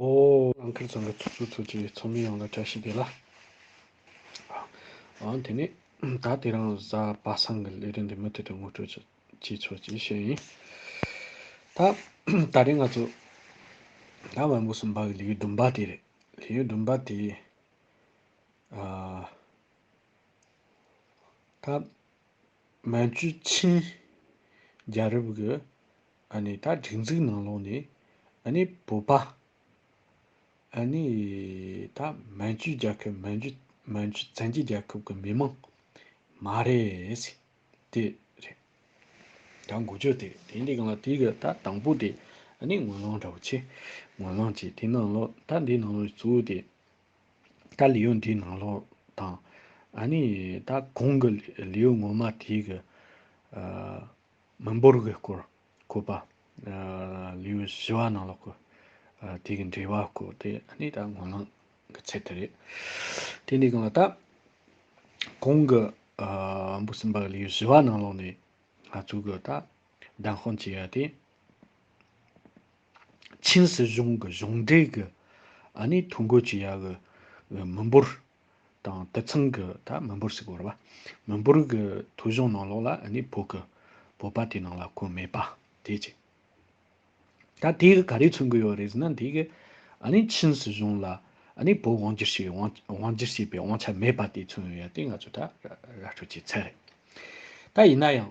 ཨོ། ཨང་ཀིར་ཚང་གི་ཚོགས་གཙོ་ཚོས་ཀྱི་ཚོགས་མི་ཡོངས་ལ་བཀྲ་ཤིས་བདེ་ལགས། ཨང། དེ་ནས་ད་ལྟའི་རང་བཟའ་པ་སངས་ཀྱི་ལས་རིན་འདི་མུ་མཐུད་དུ་ངོ་སྤྲོད་ཅིག་ཅེས་ཚོས་ཀྱིས་བཤད་ཡིན། ད། ད་རེས་ང་ཚོ། ད་བོན་པོ་སུམ་པ་གི་ལིའུ་ཟླུམ་པ་དེ་རེད། ལིའུ་ཟླུམ་པ་དེ། ཨ། ད། མན་ཇུ་ཆིན། རྒྱ་རིབ་གི། ཨ་ནི་ད་སྒྲིག་འཛུགས་ནང་ལོགས་ནས་ཨ་ནི་བོད་པ་ཨ་ནི་ད་མན་ཇུའི་རྒྱལ་ཁབ་མན་ཇུ་མན་ཇུ་བཙན་རྒྱལ་རྒྱལ་ཁབ་ཀྱི་མི་མང་མ་རེད། དེ་རེད། ད་འགོ་བརྗོད་དེ་དེ་འདི་གང་ལ་དེ་གི་ད་དང་པོ་དེ་ཨ་ནི་ངོས་ལང་འདྲ་བོ་ཆེ་ངོས་ལང་ཆེ་དེ་ནང་ལོགས་ད་འདི་ནང་ལོགས་གཙོ་བོ་དེ་ད་ལི་ཡུལ་འདི་ནང་ལོགས་དང་ཨ་ནི་ད་གོང་གི་ལི་ཡུལ་ངོ་མ་དེ་གི་ཨ། མི་འབོར་གྱི་སྐོར་བཀོད་པ། ལུས་ཞི་བ་ནང་ལོགས་ཀྱི་དུས་ཀྱི་འབྲེལ་བ་བཀོད་དེ་ནི་ད་ངོ་ལངས་ཀྱི་ཚད་དེ་རེད། དེ་ནས་གང་ལ་ད་གོང་གི་འབུ་སྲིན་པ་ལུས་ཞི་བ་ནང་ལོགས་ནས་ང་ཚོ་གི་ད་བདམས་དཔང་བྱས་ཡ་དེ། ཆིན་སྲིད་གཞུང་གི་གཞུང་འབྲེལ་གྱི་ཐོ་འགོད་བྱས་ཡ་གི་མི་འབོར་དང་དུད་ཚང་གི་ད་མི་འབོར་ཞིག་བོར་བ། མི་འབོར་གི་ཐོ་གཞུང་ནང་ལོགས་ལ་ནི་བོད་ཀྱི་བོད་པ་དེའི་ནང་ལ་བཀོད་མེད་པ་དེ་གཅིག། ད་དེ་གི་ག་རེ་མཚོན་གྱི་ཡོད་རེད་ཟེར་ན་དེ་གི་ནི་ཆིན་སྲིད་གཞུང་ལ་ནི་བོད་དབང་བསྒྱུར་བྱས་དབང་བསྒྱུར་བྱས་པའི་དབང་ཆ་མེད་པ་དེ་མཚོན་ཡོད་དེ་ང་ཚོ་ད་ར་སྤྲོད་བྱས་ཚད་རེད། ད་ཡིན་ན་ཡང།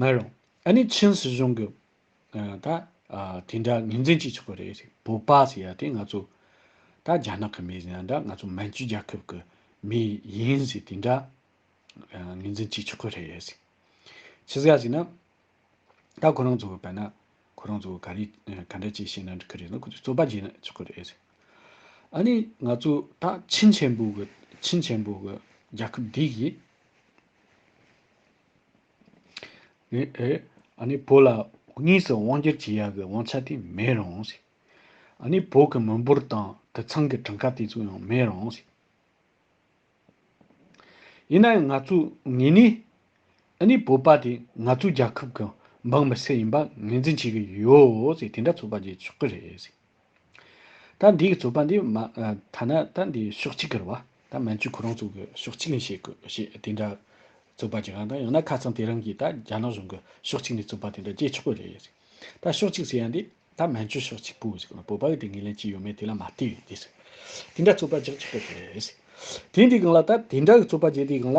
མ་རུང། ཨ་ནི་ཆིན་སྲིད་གཞུང་གི། ད། དེ་འདྲ་ངོས་འཛིན་བྱེད་ཆོག་གི་རེད། བོད་པ་ཟེར་ཡ་དེ་ང་ཚོ། ད་རྒྱ་ནག་གི་མི་ཟེར་ཡ་འདྲ་ང་ཚོ་མན་ཇུ་རྒྱལ་ཁབ་ཀྱི་མི་ཡིན་ཟེར་དེ་འདྲ། ངོས་འཛིན་བྱེད་ཆོག་གི་རེད། ཕྱི་ཟ་ཟེར་ན། ད་ཁོ་རང་ཚོ་བོད་པ་ན། ཁོ་རང་ཚོ་ག་རེ་ག་འདྲ་བྱེད་བྱེད་ན་འགྲིག་གི་རེད་ན་ཁོ་ཚོས་རྩོད་པ་བྱེད་ཆོག་གི་རེད། ཨ་ནི་ང་ཚོ་ད་ཆིན་ཆེན་པོ་གི་ཆིན་ཆེན་པོ་གི་རྒྱལ་ཁབ་འདི་ཡིས། ཨཱ། བུ་ལ་གཉིས་སུ་དབང་སྒྱུར་བྱེད་ཡག་གི་དབང་ཆ་དེ་མེད་རུང། ཨཱ། བོད་ཀྱི་མི་འབོར་དང་དུད་ཚང་གི་གྲངས་ཀ་དེ་ཚོ་ཡང་མེད་རུང། ཡིན་ན་ཡང་ང་ཚོ་ངེད་ནི་ཨཱ། བོད་པ་དེ་ང་ཚོའི་རྒྱལ་ཁབ་ཀྱི་འབངས་མི་སེར་ཡིན་པ་ངེས་འཛིན་བྱེད་ཀྱི་ཡོད། དེ་འདྲ་ཚོད་དཔག་བྱེད་ཆོག་གི་རེད། ད་འདི་གི་རྩོད་པ་འདི་མ་ཐ་ན་ད་འདི་ཕྱོགས་གཅིག་གི་རེད་བ། ད་མན་ཇུ་ཁོ་རང་ཚོ་གི་ཕྱོགས་གཅིག་ནས་བྱེད་དགོས་ཞེས་དེ་འདྲ་རྩོད་པ་བྱེད་གང་དང་ཡང་ན་ཁ་ཚང་དེ་རང་གིས་ད་རྒྱ་ནག་གཞུང་གི་ཕྱོགས་གཅིག་ནས་རྩོད་པ་དེ་འདྲ་བྱེད་ཆོག་གི་རེད། ད་ཕྱོགས་གཅིག་ཟེར་ཡ་འདི་ད་མན་ཇུ་ཕྱོགས་གཅིག་པུ་ཞིག་གི་བོད་པ་གི་དེ་ངེས་ལེན་ཅི་ཡོད་མེད་དེ་ལ་མ་བལྟས་ཏེ། དེ་འདྲ་རྩོད་པ་རྒྱག་ཆོག་གི་རེད། དེ་འདི་གང་ལ་ད་དེ་འདྲ་གི་རྩོད་པ་བྱེད་དེ་གང་ལ།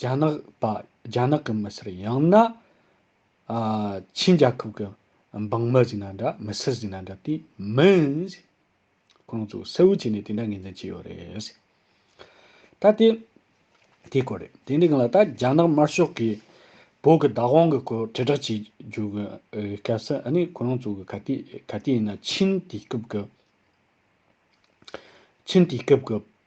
རྒྱ་ནག་པ་རྒྱ་ནག་གི་མི་སེར་ཡང་ན། ཆིན་རྒྱལ་ཁབ་ཀྱི་འབངས་མི་ཟིག་ན་འདྲ་མི་སེར་ཟིག་ན་འདྲ་དེ་མིན། ཁོང་ཚོ་གསལ་བོ་བྱས་ནས་དེ་འདྲ་ངེས་འཛིན་བྱས་ཡོད་རེད། ད་དེ་དེ་སྐོར་རེད་དེ་འདྲའི་ངང་ལ་ད་རྒྱ་ནག་དམར་ཤོག་གིས་བོད་ཀྱི་བདག་དབང་གི་སྐོར་དྲིལ་བསྒྲགས་བྱེད་རྒྱུ་གི་སྐབས་སུ་ཨ་ནི་ཁོང་ཚོ་གི་ག་དུས་ག་དུས་ཡིན་ན་ཆིན་དུས་སྐབས་ཀྱི་ཆིན་དུས་སྐབས་ཀྱི་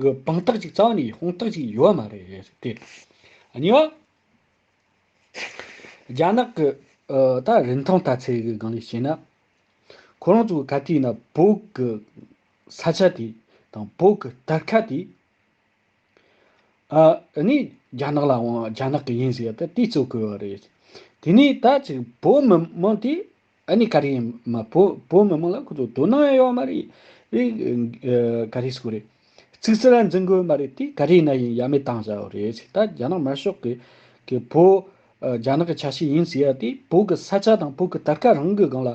གི་དཔང་རྟགས་གཅིག་གཙང་ནས་དཔང་རྟགས་གཅིག་ཡོད་མ་རེད་དེ། གཉིས་པ། རྒྱ་ནག་གི་ད་རིན་ཐང་ལྟ་ཚད་གི་སྒང་ནས་བཤད་ན། ཁོ་རང་ཚོ་ག་དུས་ཡིན་ན་བོད་ཀྱི་ས་ཆ་དེ་དང་བོད་ཀྱི་དར་ཁ་དེ། ཨ་ནི་རྒྱ་ནག་ལ་དབང་རྒྱ་ནག་གི་ཡིན་ཟེར་ཡ་ད་དེ་གཙོ་གོ་བ་རེད། དེ་ནས་ད་ཕྱིན་བོད་མི་དམངས་དེ་ཨ་ནི་ཀ་རི་ཡིན་མ་བོད་བོད་མི་མང་ལ་ཁོ་ཚོ་དོ་སྣང་ཡང་ཡོད་མ་རེད། དབྱིན་ཀ་རི་སྐོར་རེད། ཚིག་སེ་ལ་འཛིན་དགོས་མ་རེད་དེ་ཀ་རི་ན་ཡིན་ཡ་མེད་བཏང་བཞག་ཡོད་རེད་ད་རྒྱ་ནག་དམར་ཤོག་གི་གི་བོད་རྒྱ་ནག་གི་ཆ་ཤས་ཡིན་ཟེར་ཡ་དེ་བོད་ཀི་ས་ཆ་དང་བོད་ཀི་དར་ཁ་རང་གི་སྒང་ལ་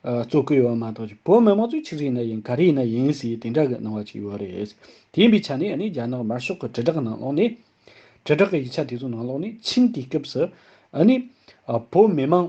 བཙོ་གི་ཡོད་མ་གཏོགས་ཀྱི་བོད་མི་མང་ཚོས་ཆིག་རིག་ན་ཡིན་ཀ་རི་ན་ཡིན་ཟེར་དེ་འདྲ་གི་སྣང་བ་ཅིག་ཡོད་རེད། དེ་ཡིན་པའི་ཆ་ནས་ཨ་ནི་རྒྱ་ནག་དམར་ཤོག་གི་དྲིལ་བསྒྲགས་ནང་ལོགས་ནས་དྲིལ་བསྒྲགས་གི་ཡིག་ཆ་དེ་ཚོ་ནང་ལོགས་ནས་ཕྱིན་དེའི་སྐབས་སུ་ཨ་ནི་བོད་མི་མང་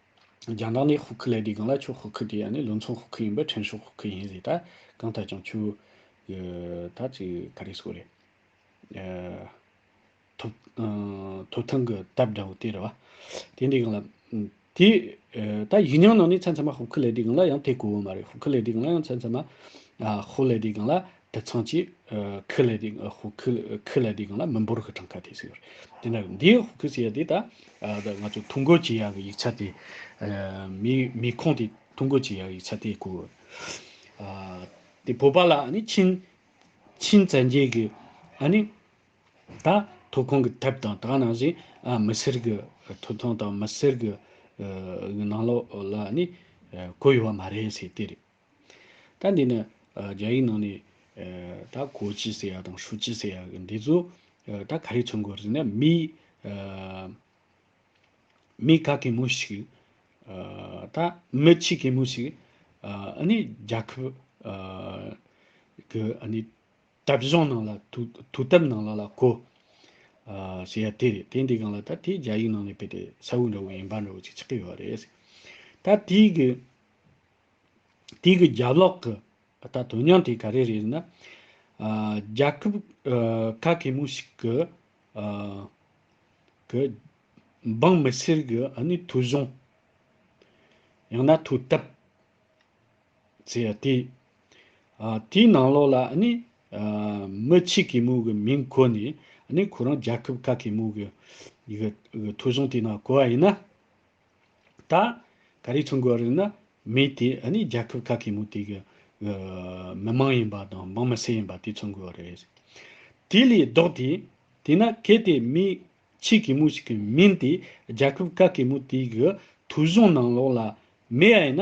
རྒྱང་གྲགས་ནི་ཧུ་ཁི་ལེ་དེའི་སྒང་ལ་ཆུ་ཧུ་ཁི་དེ་ཡང་ནི་ལུས་མཚོ་ཧུ་ཁི་ཡིན་པས་ཕྲན་ཧྲུག་ཧུ་ཁི་ཡིན་ཟེར་ད་གང་ལྟར་ཀྱང་ཆུ། ད་ཅི་ག་རེ་སོགས་རེད། ཐུབ། ཐུབ་ཐང་གི་དེབ་འདྲ་བོ་དེ་རེད་བ། དེ་འདིའི་སྒང་ལ། དེ། ད་ཡིག་རྙིང་ནང་ནས་ཚན་ཚན་མ་ཧུ་ཁི་ལེ་དེའི་སྒང་ལ་ཡང་དེ་གོ་འོང་མ་རེད་ཧུ་ཁི་ལེ་དེའི་སྒང་ལ་ཡང་ཚན་ཚན་མ། ཧུ་ལེ་དེའི་སྒང་ལ་དེ་མཚང་གཅིག་ཁི་ལེ་དེ་ཧུ་ཁི་ཁི་ལེ་དེ་གང་ལ་མི་འབོར་གི་གྲངས་ཁ་དེ་ཟེར། དེ་ནས་འདི་ཧུ་ཁི་ཟེར་དེ་ད་ང་ཚོ་ཐུང་གོ་ཅི་ཡ་གི་ཡིག་ཆ་དེ་མི་མི་ཁོངས་དེ་ཐུང་གོ་ཅི་ཡ་གི་ཡིག་ཆ་དེ་གོ། དེ་བོད་པ་ལ་ནི་ཆིན་ཆིན་བཙན་རྒྱལ་གི་ཨ་ནི་ད་ཐུ་ཁོང་གི་དེབ་དང་དག་ནང་བཞིན་མི་སེར་གི་ཐུ་ཐོང་དང་མི་སེར་གི་ནང་ལོགས་ལ་ནི་གོ་ཡོད་པ་མ་རེད་ཟེར་དེ་རེད། ད་འདི་ནི་རྒྱ་ཡིག་ནང་ནས་ད་གོ་ཅི་ཟེར་ཡ་དང་ཧྲུ་ཅི་ཟེར་ཡ་གི་འདི་ཚོ་ད་ག་རེ་མཚོན་དགོས་རེད་ན་མི་མི་ག་གེ་མོ་ཞིག་ད་མི་ཆི་གེ་མོ་ཞིག་ཨ་ནི་རྒྱ་ཁབ་གི་ཨ་ནི་དབྲ་གཞུང་ནང་ལ་དུ་དུ་དབྲ་ནང་ལ་ལ་གོ་ཟེར་ཡ་དེ་རེད་དེ་འདི་གང་ལ་ད་དེ་རྒྱ་ཡིག་ནང་ནས་བེད་དེ་ས་བོན་འདྲ་བོ་ཡིན་པ་འདྲ་བོ་ཅིག་ཆགས་ཀི་ཡོད་རེད་ད་དེའི་གི། དེ་གི་རྒྱབ་ལོག་གི་ད་དོན་སྙིང་དེ་ག་རེ་རེད་ན། རྒྱ་ཁབ་ག་གེ་མོ་ཞིག་གི་གི་འབངས་མི་སེར་གི་ནི་ཐུ་གཞུང། ཡང་ན་ཐུ་བཏབ། ཚེ་ཡ་དེ། དེའི་ནང་ལོག་ལ་ནི་མི་ཆེ་གེ་མོ་གི་མིང་གོ་ནས་ནི་ཁོ་རང་རྒྱ་ཁབ་ག་གེ་མོ་གི་གི་ཐུ་གཞུང་དེ་ནང་གོ་བ་ཡིན་ན། ད། ག་རེ་ཚུར་འགོད་རིགས་ནི་མི་དེ་ཨ་ནི་རྒྱལ་ཁབ་ག་གེ་མོ་དེ་གི། མི་མང་ཡིན་པ་དང་འབངས་མི་སེར་ཡིན་པ་དེ་ཚུར་འགོད་རེད། དེ་ལས་ལྡོག་དེ། དེ་ན་གལ་ཏེ་མི། ཆེ་གེ་མོ་ཞིག་གི་མིང་དེ་རྒྱལ་ཁབ་ག་གེ་མོ་དེ་གི་ཐོས་གཞུང་ནང་ལོགས་ལ་མེད་ཨེ་ན།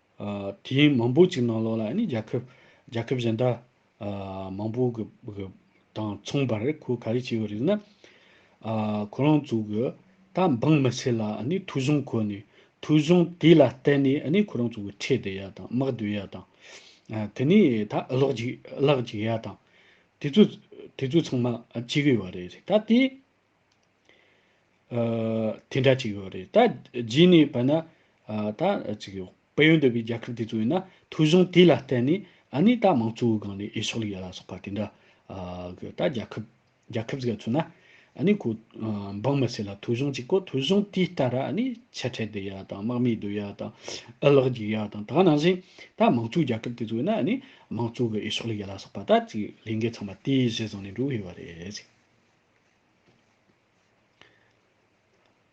དེའི་མང་པོ་ཅིག་ནང་ལོགས་ལ་ནི་རྒྱལ་ཁབ་རྒྱལ་ཁབ་གཞན་དག་མང་པོ་གི་དང་མཚུངས་པར་ཁོས་ག་རེ་བྱས་ཡོད་རེད་ན། ཁོ་རང་ཚོ་གི་ད་འབངས་མི་ཚེ་ལ་ནི་ཐུགས་གཞུང་ཁོ་ནས་ཐུགས་གཞུང་དེ་ལ་བརྟེན་ནས་ནི་ཁོ་རང་ཚོ་གི་ཁྲེལ་དོན་ཡ་དང་དམག་དོན་ཡ་དང། དེ་ནས་ད་གློག་ཅིག་གླག་ཅིག་ཡ་དང། དེ་ཚོ་དེ་ཚོ་ཚང་མ་བྱེད་གི་ཡོད་རེད། ད་དེ་དེ་འདྲ་ཅིག་ཡོད་རེད། ད་རྗེས་ནས་བལྟས་ན། ད་ཅིག་ཡོད། བལ་ཡུལ་འདི་བའི་རྒྱལ་ཁབ་དེ་ཚོ་ཡིན་ན་ཐོས་གཞུང་དེ་ལ་བལྟས་ནས་ཨ་ནི་ད་མང་གཙོའི་སྒང་ནས་ཨེ་ཕྱོགས་ལེགས་ཡ་ལ་སོགས་པ་དེ་འདྲ། གི་ད་རྒྱལ་ཁབ། རྒྱལ་ཁབ་ཟེར་ཚོད་ན། ཨ་ནི་ཁོ། འབངས་མི་སེར་ལ་ཐོས་གཞུང་གཅིག་གོ་ཐོས་གཞུང་དེའི་ལྟར་ཨ་ནི་ཆེ་ཕྲད་བསྡད་ཡ་དང་དམག་མི་སྡོད་ཡ་དང། ཨུ་ལག་རྒྱུག་ཡ་དང་དག་ནང་བཞིན། ད་མང་གཙོའི་རྒྱལ་ཁབ་དེ་ཚོ་ཡིན་ན་ཨ་ནི་མང་གཙོ་གི་ཨེ་ཕྱོགས་ལེགས་ཡ་ལ་སོགས་པ་ད་ཅིག་ལས་འགན་ཚང་མ་དེའི་གཞི་བཟུང་ནས་འགྲོ་གི་ཡོད་རེད།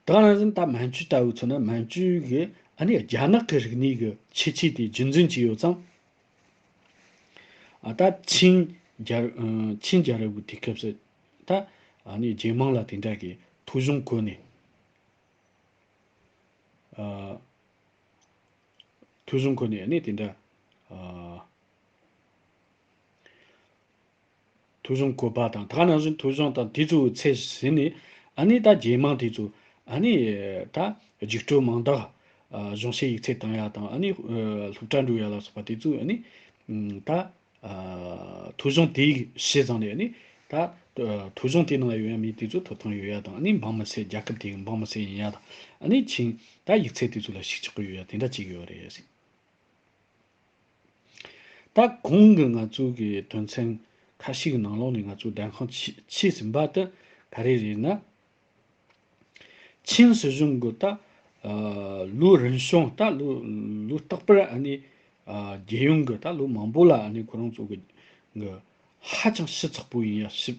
ད་རང་བཞིན་ད་མན་ཇུ་ལྟ་བུའི་ཚོ་ན་མན་ཇུ་གི་ཨ་ནི་རྒྱ་ནག་གི་རིག་གནས་ཀྱི་ཁྱད་ཆོས་དེ་རྒྱུན་འཛིན་གྱི་ཡོད་ཙང། ད་ཆིན་རྒྱལ་རབས་ཀྱི་དུས་སྐབས་སུ་ད་ཨ་ནི་རྒྱལ་དམངས་ལ་དེ་འདྲ་གི་ཐོ་གཞུང་བཀོད་ནས། ཐོ་གཞུང་བཀོད་ནས་ཨ་ནི་དེ་འདྲ། ཐུགས་གཞུང་གོ་བ་དང་ད་ནང་བཞིན་ཐུགས་གཞུང་དང་དེ་ཚོའི་ཚད་ཟིན་ནས་ཨ་ནི་ད་རྒྱལ་མང་དེ་ཚོ་ཨ་ནི་ད་རྒྱུགས་སྤྲོད་མང་དག་གཞུང་བཤད་ཡིག་ཚད་བཏང་ཡག་དང་ཨ་ནི་ལྷུག་དྲ་འགྲོ་ཡག་ལ་སོགས་པ་དེ་ཚོས་ཨ་ནི་ད་ཐུགས་གཞུང་དེ་བྱས་ཙང་ནས་ཨ་ནི་ད་ཐུགས་གཞུང་དེ་ནང་ཡོད་ཡག་མི་དེ་ཚོ་ཐོབ་ཐང་ཡོད་ཡག་དང་ཨ་ནི་འབངས་མི་སེར་རྒྱལ་ཁབ་དེའི་འབངས་མི་སེར་ཡིན་ཡག་དང་ཨ་ནི་ཕྱིན་ད་ཡིག་ཚད་དེ་ཚོ་ལ་ཞིག་ཆགས་ཀྱི་ཡོད་ཡག་དེ་འདྲ་གཅིག་ཡོད་རེད། ད་གུང་གི་ང་ཚོའི་གི་དོན་ཚན་ཁ་ཤིག་ནང་ལོགས་ནས་ང་ཚོའི་བདེན་ཁང་ཕྱིས་ཟིན་པ་དེ་ག་རེ་རེད་ན། ཆིན་སྲིད་གཞུང་གི་ད་ལོའི་རིན་གཞུང་ད་ལོའི་རྟག་པར་ཨ་ནི་རྒྱལ་ཡོངས་གི་ད་ལོའི་མང་པོ་ལ་ཨ་ནི་ཁོ་རང་ཚོ་གི་ཧ་ཅང་ཞི་ཚགས་པོ་ཡིན་ཡ་ཞི།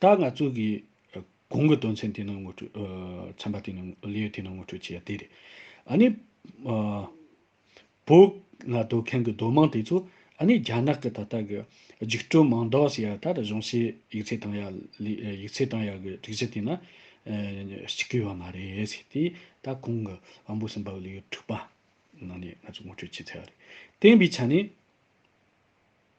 ད་ང་ཚོ་གིས་གོང་གི་དོན་ཚན་དེ་རྣམས་ངོ་སྤྲོད། ཚན་པ་དེ་རྣམས་ལེའུ་དེ་རྣམས་ངོ་སྤྲོད་བྱས་ཡ་དེ་རེད། ཨ་ནི། བོད་ང་སྡོད་མཁན་གྱི་སྡོད་དམངས་དེ་ཚོ་ཨ་ནི་རྒྱ་ནག་གི་ད་ལྟ་གི་འཇིགས་སྐྲོལ་མང་དག་ཞིག་ཡ་ད་རུ་གཞུང་སྲིད་ཡིག་ཚད་དང་ཡ་ཡིག་ཚད་དང་ཡ་གི་སྒྲིག་གཞི་དེ་ན་ཞིག་གི་ཡོད་མ་རེད་ཟེར་ཏེ་ད་གོང་གི་དབང་པོ་གསུམ་པ་གི་ལེའུ་དྲུག་པ་ནང་ནས་ང་ཚོ་ངོ་སྤྲོད་བྱས་ཚར་བ་རེད། བསྟན་པའི་ཆ་ནས།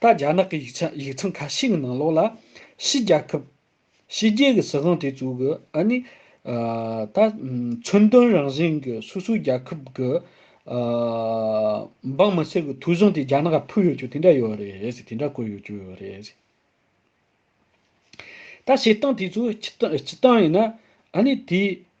ད་རྒྱ་ནག་གི་ཡིག་ཆ་ཡིག་ཚང་ཁ་ཤས་ཀྱི་ནང་ལོགས་ལ། ཕྱི་རྒྱལ་ཁབ། ཕྱི་རྒྱལ་གྱི་སྲིད་དབང་དེ་ཚོ་གི་ཨ་ནི། ད། མཚོན་དོན་རང་བཞིན་གྱི་སོ་སོའི་རྒྱལ་ཁབ་ཀྱི། འབངས་མི་སེར་གྱི་ཐུགས་གཞུང་དེ་རྒྱ་ནག་ལ་ཕུལ་ཡོད་ཆོག་དེ་འདྲ་ཡོད་རེད་དེ་འདྲ་བཀོད་ཡོད་ཆོག་ཡོད་རེད། ད་བྱེད་སྟངས་དེ་ཚོ་སྤྱི་སྟངས་ཡིན་ན། ཨ་ནི་དེ།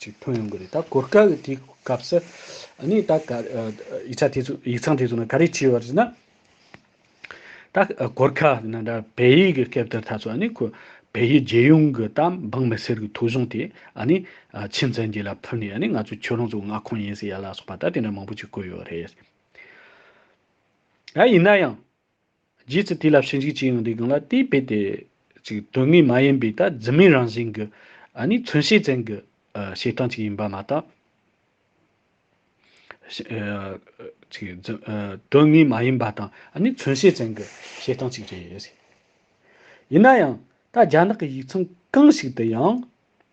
ཅིག་ཐོན་ཡོང་གི་རེད་ད་གོ་སྐབས་དེའི་སྐབས་སུ་ནི་ད་ག་ཡིག་ཆ་དེ་ཚོ་ཡིག་ཚང་དེ་ཚོ་ནི་ག་རེ་བྱས་པར་ཟེར་ན། ད་གོ་སྐབས་ན་འདྲ་བལ་ཡིག་གི་སྐབས་དེར་ད་ཚོ་ནི་ཁོ་བལ་ཡུལ་རྒྱལ་ཡོངས་ཀྱི་ད་འབངས་མི་སེར་གྱི་ཐོ་གཞུང་དེ་ནི་ཆིན་ཙན་རྒྱལ་ལ་ཕུལ་ནས་ནི་ང་ཚོ་ཁྱོད་རང་ཚོའི་མངའ་ཁོངས་ཡིན་ཟེར་ཡ་ལ་སོགས་པ་ད་དེ་འདྲ་མང་པོ་ཅིག་བཀོད་ཡོད་རེད། ཡིན་ན་ཡང། རྗེས་སུ་དེ་ལ་ཕྱི་འཇུག་ཅི་ཡང་རིག་གང་ལ་དེའི་དཔེ་དེ། དོན་དངོས་མ་ཡིན་པའི་ཐད་རྫུན་མའི་རང་བཞིན་གྱི། ནི་མཚོན་བྱེད་ཅན་གྱི། བྱེད་སྟངས་ཅིག་ཡིན་པ་མ་གཏོགས། དོན་དངོས་མ་ཡིན་པ་དང་ནི་མཚོན་བྱེད་ཅན་གྱི་བྱེད་སྟངས་ཅིག་རེད། ཡིན་ན་ཡང། ད་རྒྱ་ནག་གི་ཡིག་ཚང་གང་ཞིག་ཏུ་ཡང།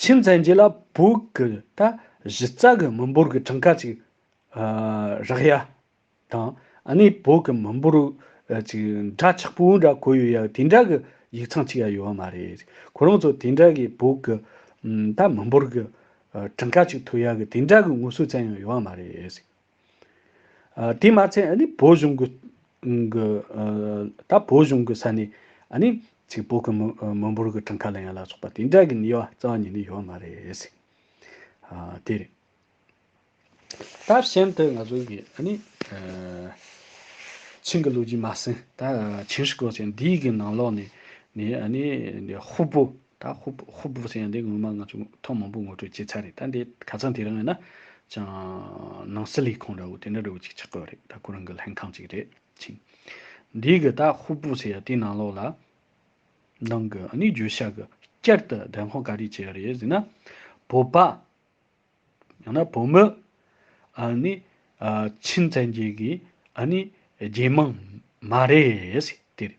ཕྱིར་མཚན་རྗེས་ལ་བུག་གི་ད་གཞི་རྩ་གི་མི་འབོར་གྱི་གྲངས་ཀ་ཅིག་རག་ཡ་དང་ནི་བུག་གི་མི་འབོར་ཅིག་འདྲ་ཆགས་པོ་འདྲ་གོ་ཡོད་ཡ་དེ་འདྲ་གི་ཡིག་ཚང་ཅིག་ཡ་ཡོད་བ་མ་རེད། ཁོ་རང་ཚོ་དེ་འདྲ་གི་བུག་གི་ད་མི་འབོར་གྱི་གྲངས་ཀ་ཅིག་ཐོས་ཡ་གི་དེ་འདྲ་གི་ངོ་སོའི་བཙན་ཡང་ཡོད་བ་མ་རེད། དེས་མ་ཚད་ནི་བོད་གཞུང་གི། ད་བོད་གཞུང་གི་ས་ནས། ཚིག་བོད་ཀྱི་མི་འབོར་གྱི་གྲངས་ཁ་ལ་ཡང་ལ་སོགས་པ་དེ་འདྲ་གི་ནི་ཡོད་རྩ་བ་ཉིད་ནི་ཡོད་མ་རེད། དེ་རེད། ད་གཞན་དུ་ང་ཚོ་གི། ཆིང་གི་ལོ་རྒྱུས་མ་ཟིན། ད་ཆིང་ཧྲི་གོ་ཆེན་འདིའི་གི་ནང་ལོགས་ནས། ཧུ་བོད། ད་ཧུབ་ཧུབ་བོ་ཟེར་ཡང་དེ་ངོ་མ་ང་ཚོས་ཐོག་མང་པོ་ངོ་སྤྲོད་བྱས་ཚར་རེད་ད་འདི་ག་ཚང་དེ་རང་ཡིན་ན་ཅང་ནང་སི་ལི་ཁོང་འདྲ་བོ་དེ་འདྲ་འདྲ་བོ་ཅིག་ཆགས་དགོས་རེད་ད་ཁོ་རང་གི་ལྷན་ཁང་ཅིག་རེད་ཅིང། འདི་གི་ད་ཧུབ་བོ་ཟེར་ཡང་དེ་ནང་ལོགས་ལ་ནང་གི་ཨ་ནི་འགྱོད་བཤགས་གི་བསྐྱར་དུ་བདེན་དཔང་ག་རེ་བྱས་ཡོད་རེད་ཟེར་ན། བོད་པ། ཡང་ན་བོད་མི། ཨ་ནི་ཨ་ཕྱིན་བཙན་རྒྱལ་གི་ཨ་ནི་རྒྱལ་དམངས་མ་རེད་ཟེར་དེ་རེད།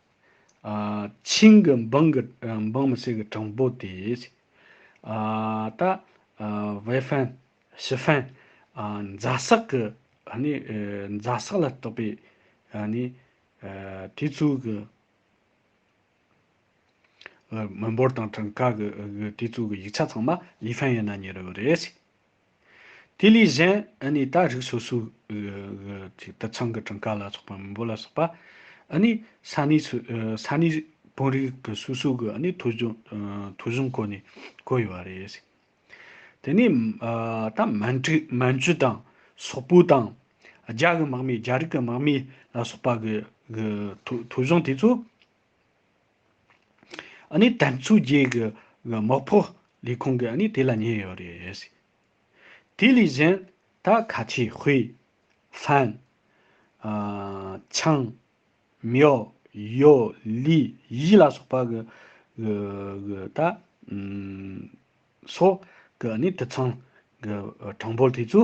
ཆིང་གི་འབངས་ཀྱི་འབངས་མི་སེར་གྱི་གྲངས་འབོར་དེ། ད། ཝེ་ཧྥན། ཞི་ཧྥན། རྫ་སག་གི་རྫ་སག་ལ་གཏོགས་པའི་དེ་ཚོའི་གི་མི་འབོར་དང་གྲངས་ཀ་གི་དེ་ཚོའི་གི་ཡིག་ཆ་ཚང་མ་ལི་ཧྥན་ཡན་ན་ཉེ་རུ་ཡོད་རེད། དེ་ལས་གཞན་ནི་ད་རིགས་སོ་སོའི་དུད་ཚང་གི་གྲངས་ཀ་ལ་སོགས་པ་མི་འབོར་ལ་སོགས་པ་ནི་ས་གནས་དཔོན་རིགས་ཀྱི་སོ་སོ་གི་ཐོ་གཞུང་སྐོར་ནས་བཀོད་ཡོད་པ་རེད། དེ་ནས་ད་མན་ཇུ་དང་སོག་པོ་དང་རྒྱ་གི་དམག་མི་རྒྱ་རིགས་ཀྱི་དམག་མི་ལ་སོགས་པ་གི་ཐོ་གཞུང་དེ་ཚོ། ནི་དམ་ཚུགས་རྒྱས་གི་དམག་ཕོ་ལས་ཁུང་གི་ནི་དེ་ལ་ཉེ་ཡོད་རེད། དེ་ལས་གཞན་ད་ག་ཆེ་ཧུའེ། ཧྥན། ཆང། མྱོ། ཡོ། ལི། ཡི་ལ་སོགས་པ་གི་གི་ད། སོགས་ཀྱི་ནི་དུད་ཚང་གི་གྲངས་འབོར་དེ་ཚོ།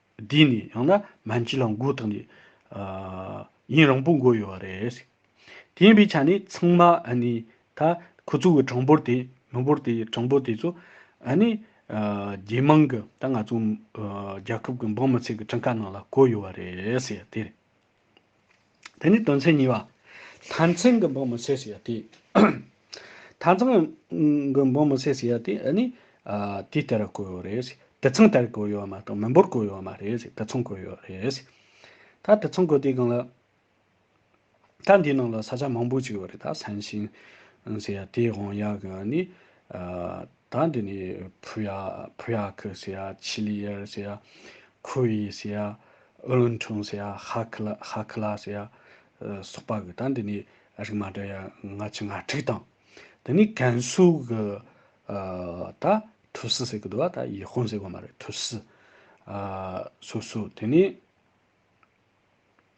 དེས་ནི་ཡང་ན་མན་ཇི་ལ་མགོ་བཏགས་ནས། ཡིན་རང་པོ་མགོ་ཡོད་པ་རེད། དེ་ཡིན་པའི་ཆ་ནས་ཚང་མ་ནི་ད་ཁོ་ཚོ་གི་གྲངས་འབོར་དེ་མི་འབོར་དེ་གྲངས་འབོར་དེ་ཚོ་ནི། རྒྱལ་དམངས་ཀྱི་ད་ང་ཚོ་རྒྱལ་ཁབ་ཀྱི་འབངས་མི་ཚེ་གི་གྲངས་ཀ་ནང་ལ་བཀོད་ཡོད་པ་རེད། དེ་རེད། དེ་ནི་དོན་ཚན་གཉིས་པ། དང་ཚན་གྱི་འབོ་མི་སྲེག་ཟེར་ཡ་དེ། དང་ཚན་གྱི་འབོ་མི་སྲེག་ཟེར་ཡ་དེ་ནི། དེ་དེ་རུ་བཀོད་ཡོད་རེད། དེ་མཚུངས་དེར་བཀོད་ཡོད་མ་གཏོགས་མི་འབོར་བཀོད་ཡོད་མ་རེད། དེ་མཚུངས་བཀོད་ཡོད་རེད། ད་དེ་མཚུངས་བཀོད་དེའི་སྒང་ལ། ད་འདིའི་ནང་ལ་ས་ཆ་མང་པོ་ཞིག་ཡོད་རེད་ད། སན་ཤིན། ཟེར་ཡ་དེའི་དབང་ཡག་གི་ནི། ད་འདི་ནི་བྷུ་ཡ། Puyak། ཟེར་ཡ། ཆི་ལི་ཡེར་ཟེར་ཡ། ཁུའུ་ཡི་ཟེར་ཡ། ཨུ་ལུན་ཁྲུང་ཟེར་ཡ། ཧ་ཁི་ལ། Hakla། ཟེར་ཡ། སོགས་པ་གི་ད་འདི་ནི་རིགས་མ་འདྲ་ཡ་ང་ཆི་ང་ཁྲིག་དང། དེ་ནི་ཀན་སུའུ་གི་ད་ཐུ་སི་ཟེར་གི་འདུག་བ་ད་ཡེ་ཧོན་ཟེར་གི་མ་རེད་ཐུ་སི། སུ་སུ་དེ་ནི།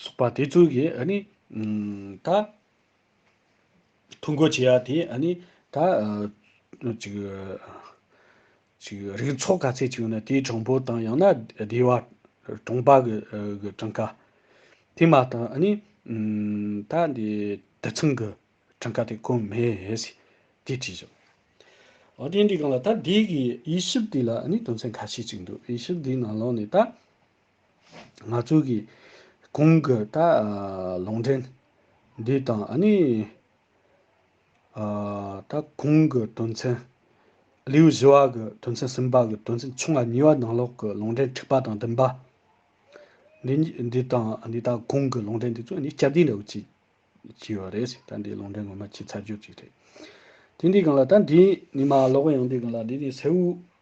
སོགས་པ་དེ་ཚོ་གིས་ནི། ད། ཐུགས་འགོ་བྱེད་ཡ་དེ་ནི། ད། ཅིག། ཅིག་རིགས་ཚོགས་ག་ཚད་ཅིག་ཡོད་ན་དེའི་གྲངས་འབོར་དང་ཡང་ན་སྡེ་བ། གྲོང་པ་གི་གྲངས་ཀ། དེ་མ་ཐག་ནི། ད་འདི་དེ་ཚང་གི་གྲངས་ཀ་དེ་བཀོད་མེད། དེ་དྲིས་བྱུང། ཨོ་དེ་འདྲའི་སྒང་ལ་ད་དེ་གི་དབྱེ་ཞིབ་དེ་ལ་ནི་དོན་ཚན་ཁ་ཤས་ཅིག་འདུག་དབྱེ་ཞིབ་དེའི་ནང་ལོགས་ནས་ད། ང་ཚོ་གིས་གོང་གི་ད་ལོང་འདྲེན་འདུས་དང་ཨ་ནི་ད་གོང་གི་དོན་ཚན་ལེའུ་བཞི་བ་གི་དོན་ཚན་གསུམ་པ་གི་དོན་ཚན་ཆུང་བ་གཉིས་པ་ནང་ལོགས་ཀྱི་ལོང་འདྲེན་འཁྲིག་པ་དང་བདུན་པ། འདི་གཉིས་འདི་དང་ཨ་ནི་ད་གོང་གི་ལོང་འདྲེན་འདི་ཚོ་གཉིས་སྐྱར་ཟློས་འདྲ་བོ་བྱས་བྱས་པ་རེད། ད་འདི་ལོང་འདྲེན་ངོ་མ་ཆེས་ཚར་གཅོད་ཅིག་རེད། དེ་འདི་གང་ལ་ད་འདི་ནི་མ་ལོག་ཡང་འདི་གང་ལ་འདི་ནི་སེའུ་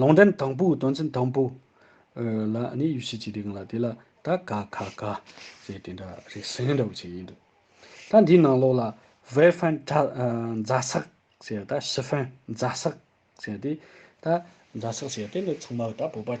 ལུང་འདྲེན་དང་པོའི་དོན་ཚན་དང་པོ། ལ་ནི་ཡུལ་ཤེས་ཀྱི་རིགས་ལྔ་དེ་ལ་ད་ག་ག་ག། ཞེས་དེ་འདྲ་རིགས་གསལ་འདྲ་བོ་ཆེ་ཡིན་འདུག་ད་འདིའི་ནང་ལོགས་ལ། བྷེ་ཧྥན་གྲྭ། རྫ་སག། ཞེས་ད་ཤི་ཧྥན་རྫ་སག། ཞེས་ཏེ། ད་རྫ་སག་ཞེས་ཏེ་འདི་ཚང་མ་ད་བོད་པ།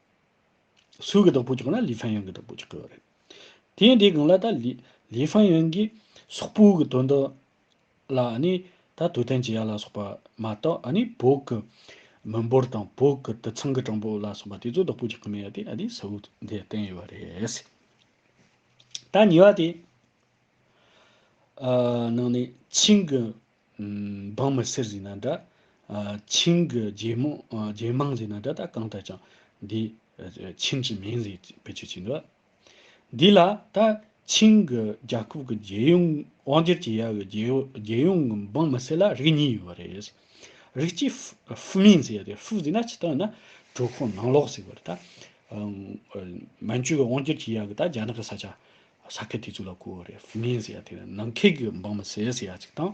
སུའུ་གི་བདག་པོ་བྱུང་ན་ལི་ཧྥན་ཡོན་གྱི་བདག་པོ་བྱེད་དགོས་པ་རེད། དེ་ཡིན་དེའི་སྒང་ལ་ད་ལི་ཧྥན་ཡོན་གྱིས་སོག་པོའི་གི་དོན་དག་ལ་ནི་ད་དུས་གཏན་བྱེད་ཡ་ལ་སོགས་པ་མ་གཏོགས་ནི་བོད་གི་མི་འབོར་དང་བོད་གི་དུད་ཚང་གི་གྲངས་འབོར་ལ་སོགས་པ་དེ་ཚོ་བདག་པོ་བྱེད་ཀྱི་མེད་ཡ་དེ་ནི་སུའུ་དེ་བསྟན་ཡོད་པ་རེད། ད་ཉེ་བ་དེ་ནང་ནས་ཆིང་གི་འབངས་མི་སེར་ཟིན་ན་འདྲ། ཆིང་གི་རྒྱལ་དམངས་ཟིན་ན་འདྲ་ད་གང་ལྟར་ཀྱང་འདི་ཆིང་གི་མིང་ཟིག་བེད་སྤྱོད་བྱེད་འདོད། འདི་ལ་ད་ཆིང་གི་རྒྱ་ཁབ་ཀྱི་རྒྱལ་ཡོངས་དབང་སྒྱུར་བྱེད་ཡག་གི་རྒྱལ་ཡོངས་ཀྱི་འབངས་མི་སེར་ལ་རིགས་གཉིས་ཡོད་པ་རེད། རིགས་གཅིག་ཧྥུ་མིང་ཟེར་ཡོད་དེ་ཧྥུ་ཟིན་ན་ཇི་ལྟར་ཡིན་ན་གྲོས་ཁོག་ནང་ལོག་ཟེར་བ་རེད། མན་ཇུ་གི་དབང་སྒྱུར་བྱེད་ཡག་གི་ད་རྒྱ་ནག་གི་ས་ཆ་ས་སྐལ་དེ་ཚོ་ལ་བསྐུར་བ་རེད་མིན་ཟེར་ཡ་དེ་ནི་ནང་ཁེལ་གྱི་འབངས་མི་ཟེར་ཟེར་ཡ་གཅིག་དང།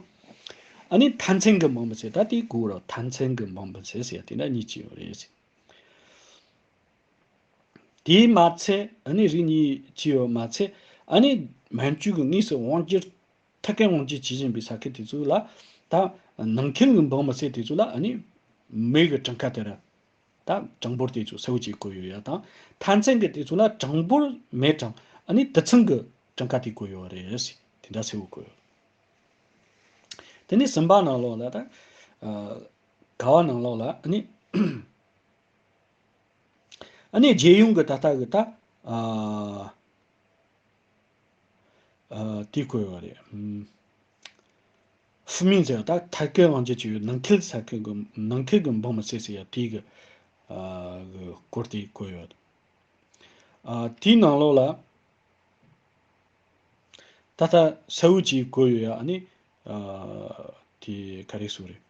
ཨ་ནི་མཐའ་མཚན་གྱི་འབངས་མི་ཟེར་ད་དེ་བསྐུར་བ་རོགས་མཐའ་མཚན་གྱི་འབངས་མི་ཟེར་ཟེར་ཡ་དེ་འདྲ་གཉིས་ཅི་ཡོད་རེད་ཟེར། དེས་མ་ཚད་ཨ་ནི་རིགས་གཉིས་ཅི་ཡོད་མ་ཚད་ཨ་ནི་མན་ཇུ་གྱི་དངོས་སུ་དབང་སྒྱུར་ཐད་ཀའི་དབང་སྒྱུར་བྱེད་བཞིན་པའི་ས་སྐལ་དེ་ཚོ་ལ་ད། ནང་ཁེལ་གྱི་འབངས་མི་ཟེར་དེ་ཚོ་ལ་ཨ་ནི་མེ་གི་གྲངས་ཀ་དེ་རེད། དང། གྲངས་འབོར་དེ་ཚོ་སེའུ་ཅིག་བཀོད་ཡོད་ཡ་དང། མཐའ་མཚན་གྱི་དེ་ཚོ་ལ་གྲངས་འབོར་མེད་གྲངས་ཨ་ནི་དུད་ཚང་གི་གྲངས་ཀ་དེ་བཀོད་ཡོད་རེད། དེ་འདྲ་སེའུ་བཀོད་ཡོད། དེ་ནས་སུམ་པ་ནང་ལོགས་ལ་དང། ག་བ་ནང་ལོགས་ལ་ཨ་ནི། ཨ་ནི་རྒྱལ་ཡོངས་ཀྱི་ད་ལྟ་གི་ད། དེ་བཀོད་ཡོད་རེད། ཧྥུ་མིང་ཅེ་ཡང་ད་ཐར་ཀའི་དབང་ཆ་ཅི་ཡོད་ནང་ཁེལ་ས་ཁེལ་གི་ནང་ཁེལ་གི་འབངས་མི་བསད་ཟེར་ཡ་དེའི་གི་གི་སྐོར་དེ་བཀོད་ཡོད། ཨ་དེའི་ནང་ལོགས་ལ་ད་ལྟ་ས་ཨུད་ཅེས་བཀོད་ཡོད་ཡ་ཨ་ནི་ཨ་དེ་ག་རེ་སུ་རེད།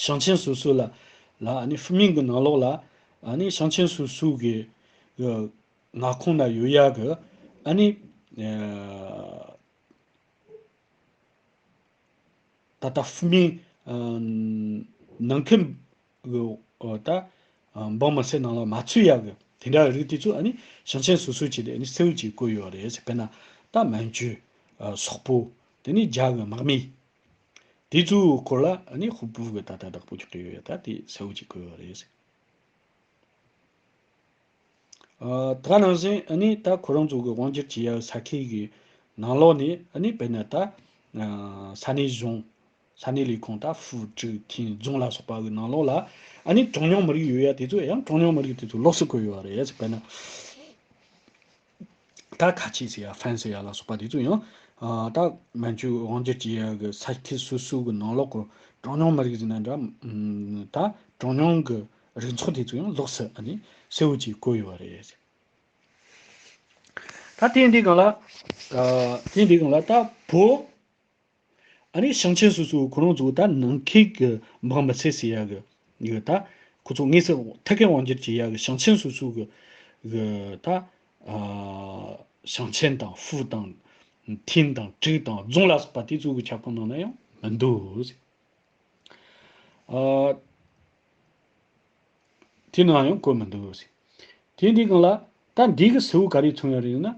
ཞང་ཆེན་སུ་སུ་ལ་ལ་ཨ་ནི་ཧྥུ་མིང་གི་ནང་ལོགས་ལ་ཨ་ནི་ཞང་ཆེན་སུ་སུ་གི་གི་མངའ་ཁོངས་ན་ཡོད་ཡ་གི་ཨ་ནི་ཨ་ད་ལྟ་ཧྥུ་མིན། ནང་ཁུལ། འོག་ད། འབངས་མི་སེར་ནང་ལ་མ་ཚུད་ཡག་གི། དེ་འདྲ་རིགས་དེ་ཚོ་ཨ་ནི། ཞིང་ཆེན་སོ་སོའི་བྱས་ཏེ་ཨ་ནི་སེའུ་ཅིག་བཀོད་ཡོད་རེད། དཔེར་ན། ད་མན་ཇུ། སོག་པོ། དེ་ནི་རྒྱ་གི་དམག་མི། དེ་ཚོའི་སྐོར་ལ་ཨ་ནི་ཧུ་པུའུ་གི་ད་ད་བདག་པོ་ཅིག་བཀྲིས་ཡོད་ཡ་ད་དེ་སེའུ་ཅིག་བཀོད་ཡོད་རེད། ད་ནང་བཞིན་ནི་ད་ཁོ་རང་ཚོ་གི་དབང་སྒྱུར་བྱེད་ཡའི་ས་ཁེལ་གི་ནང་ལོགས་ནས་ནི་དཔེར་ན་ད་ས་གནས་གཞུང། ས་གནས་ལས་ཁུངས་ད་ཧྥུའུ་ཀྲི་ཁེན་རྫོང་ལ་སོགས་པ་གི་ནང་ལོགས་ལ་ནི་གྲངས་ཉུང་མི་རིགས་ཡོད་ཡ་དེ་ཚོ་ཡང་གྲངས་ཉུང་མི་རིགས་དེ་ཚོ་ལོགས་སུ་བཀོད་ཡོད་རེད། དཔེར་ན། ད་ག་ཆེས་ཟེར་ཡ་ཧྥན་ཟེར་ཡ་ལ་སོགས་པ་དེ་ཚོ་ཡང། ད་མན་ཇུ་དབང་སྒྱུར་གྱི་ཡ་གི་ས་ཁུལ་སོ་སོའི་གི་ནང་ལོག་གི་གྲངས་ཉུང་མི་རིགས་ཟེར་ན་འདྲ། ད་གྲངས་ཉུང་གི་རིགས་ཚོགས་དེ་ཚོ་ཡང་ལོགས་སུ་ཨ་ནི་གསལ་བོ་གྱིས་བཀོད་ཡོད་རེད། ད་དེ་འདི་གང་ལ། དེ་འདི་གང་ལ་ད་བོད། ཨ་རིའི་ཞིང་ཆེན་སོ་སོའི་ཁོ་རང་ཚོའི་ད་ནང་ཁེ་གི་འབངས་མི་ཚེ་སི་ཡ་གི་གི་ད་ཁོ་ཚོ་དངོས་སུ་ཐད་ཀའི་དབང་སྒྱུར་གྱི་ཡ་གི་ཞིང་ཆེན་སོ་སོའི་གི་གི་ད་ཞིང་ཆེན་དང་ཧྥུའུ་དང་ཐིན་དང་ཀྲིག་དང་རྫོང་ལ་སོགས་པ་དེ་ཚོའི་གི་ཁྱབ་ཁོངས་ནང་ན་ཡང་མི་འདུག་ཨ། དེ་ནའང་ཡང་བཀོད་མི་འདུག། དེ་འདི་གང་ལགས། ད་འདི་གི་ཟེའུ་ག་རེ་འཚོང་ཡ་རེ་ཡོད་ན།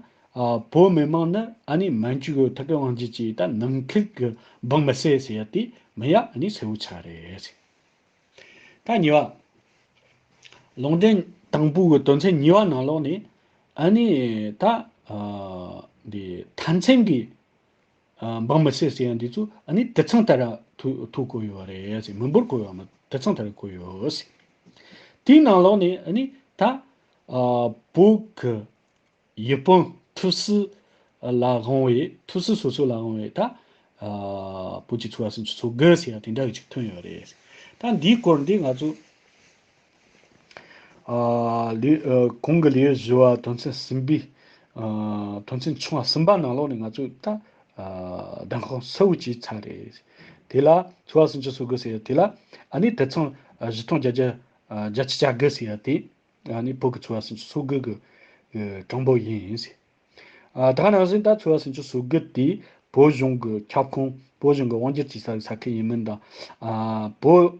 བོད་མི་དམངས་ནི་ཨ་ནི་མན་ཇུ་གི་ཐུ་གེ་དབང་ཇི་ཅི་ད་ནམ་མཁིག་གི་སྦང་མི་སེ་ཟེ་ཡ་དེ་མི་ཡ་ཨ་ནི་ཟེའུ་ཆ་རེད། ད་ཉི་བ། ལུང་འདྲེན་དང་པོ་གི་དོན་ཚན་ཉི་བ་ནང་ལོགས་ནས་ཨ་ནི་ད། འདི་མཐའ་མཚན་གི་འབངས་མི་སེར་ཅི་ཡང་འདི་ཚོ་ཨ་ནི་དེ་ཚང་ད་ར་ཐུག་བསྐོས་ཡོད་རེད་ཟེར་མི་འབོར་བསྐོས་ཡོད་དེ་ཚང་ད་ར་བསྐོས་ཡོད་ཟེར། དེའི་ནང་ལོགས་ནས་ཨ་ནི་ད་བོད་ཡུལ་དཔོན་ཐུགས་སྲི་ལ་དབང་བའི་ཐུགས་སྲི་སོ་སོ་ལ་དབང་བའི་ད་བོད་ཀྱི་ཚོ་བ་སུམ་ཅུ་ཚོ་དགུ་ཟེར་ཡང་དེ་འདྲ་གི་ཅིག་ཐོན་ཡོད་རེད་ཟེར། ད་འདིའི་སྐོར་འདི་ང་ཚོ། གོང་གི་ལེའུ་བཞི་བ་དོན་ཚན་གསུམ་པའི་དོན་ཚན་ཆུང་བ་གསུམ་པ་ནང་ལོགས་ནས་ང་ཚོས་ད་ལྡང་ཁོག་གསལ་བོ་བྱས་ཚར་རེད། དེ་ལ་ཚོ་བ་ཟིན་ཅི་བཟོ་དགོས་ཟེར་ཡ་དེ་ལ་ཨ་ནི་དེ་མཚུངས་བཞི་སྟོང་བརྒྱ་བརྒྱ་བརྒྱ་ཅི་བྱ་དགོས་ཟེར་ཡ་དེ་ཨ་ནི་བོད་ཀྱི་ཚོ་བ་ཟིན་ཅི་བཟོ་དགོས་ཀྱི་གྲངས་འབོར་ཡིན། ད་ནང་བཞིན་ད་ཚོ་བ་ཟིན་ཅི་བཟོ་དགོས་དེ་བོད་གཞུང་གི་ཁྱབ་ཁོངས་བོད་གཞུང་གི་དབང་སྒྱུར་བྱེད་ས་ཡི་ས་ཁུལ་ཡིན་མིན་དང་བོད།